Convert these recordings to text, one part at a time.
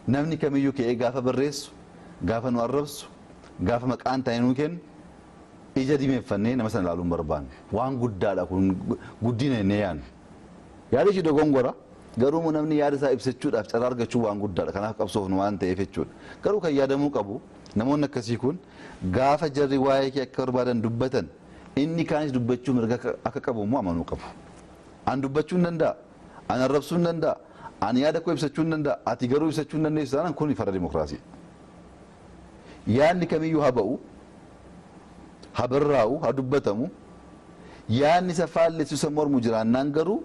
Namni kamiyyuu ka'ee gaafa barreessu, gaafa nu arrabsu, gaafa maqaa hin taane nuu kennu ija diimeffannee nama sana ilaaluu hin barbaannu. Waan guddaadha kun guddina jennee yaanna. Yaada ishii dogongora, garuu immoo namni yaada isaa ibsachuudhaaf carraa argachuun waan guddaadha. Kanaaf qabsoofnu waan ta'eef jechuudha. Garuu kan yaadamuu qabu namoonni akkasii kun gaafa jarri waa'ee kee akka barbaadan dubbatan inni kaanis dubbachuu mirga akka qabu immoo amanuu qabu. An dubbachuu hin danda'a. Ani arrabsuu nan danda'a, ani yaada koo ibsachuu nan danda'a, ati garuu ibsachuu hin dandeessu taanaan kuni farra dimokiraasiidha. Yaadni kamiyyuu ha ba'u, ha barraa'u, ha dubbatamu, yaadni isa faallessu, isa mormu jiraannaan garuu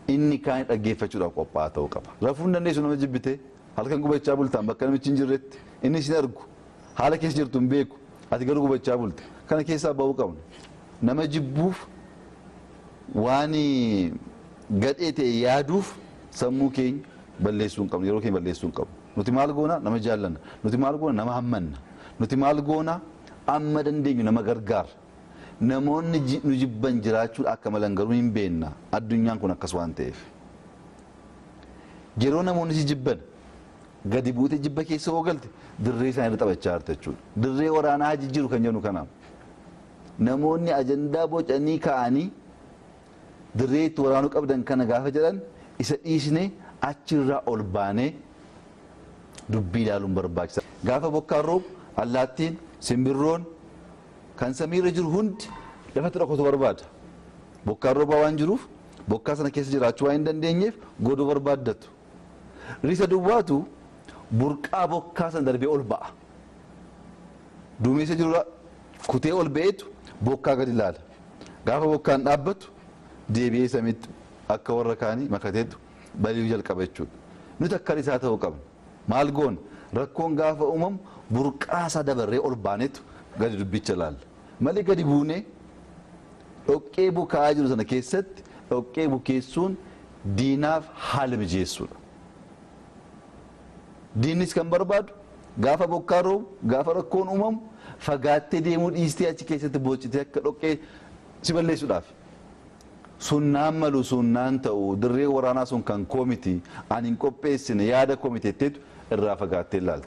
inni kaani dhaggeeffachuudhaaf qophaa'aa ta'uu qaba. Rafuu hin dandeessu nama jibbitee, halkan gubachaa bultaan bakka namichi hin jirretti, inni si hin argu. Haala keessa jirtu hin beeku. Ati garuu gubachaa bulte. Kana keessaa ba'uu qabna. Nama jibbuuf waan gadhee ta'e yaaduuf sammuu keenya balleessuu hin qabnu. Yeroo keenya balleessuu hin qabnu. Nuti maal goona? Nama jaallanna. Nuti maal goona? Nama hammanna. Nuti maal goona? Amma dandeenyu nama gargaarra. Namoonni nu jibban jiraachuun akka malan garuu hin beekna. Addunyaan kun akkas waan ta'eef. Yeroo namoonni si jibban, gadi buutee jibba keessa yoo galte dirree isaanii irra taphachaa jirta jechuudha. Dirree waraanaa haa jijjiiru kan jennu kanaaf. Namoonni ajandaa bocanii kaa'anii dirree itti waraanuu qabdan kana gaafa jedhan isa dhiisnee achirraa ol baanee dubbii ilaaluun barbaachisa. Gaafa bokkaan roobu allaattiin, simbirroon kan samiirra jiru hundi lafatti dhokatu barbaada. Bokkaan roobaa waan jiruuf Bokkaa sana keessa jiraachuu waan hin dandeenyeef godoo barbaaddatu. Risa duwwaatu burqaa bokkaa sana darbee ol ba'a. Duumessa jirurra kutee ol ba'eetu bokkaa gadi ilaala. Gaafa bokkaan dhaabbatu deebi'ee samiitti akka warra kaanii makateetu bali'uu jalqaba jechuudha. Nuti akka risaa ta'uu qabna. Maal goona? Rakkoon gaafa uumamu burqaa isaa dabarree ol baaneetu gadi dubbicha ilaalla. Malee gadi buunee Dhoqqee bukaa'aa jiru sana keessatti dhoqqee bukeessuun diinaaf haala mijeessuudha. Diinnis kan barbaadu gaafa bokkaan roobu, gaafa rakkoon uumamu fagaattee deemuu dhiistee achi keessatti boochitee akka dhoqqee si balleessuudhaafi. Sun naan malu, sun naan ta'u, dirreen waraanaa sun kan koo miti, ani hin qopheessine, yaada koo miti jetteetu irraa fagaattee ilaalta.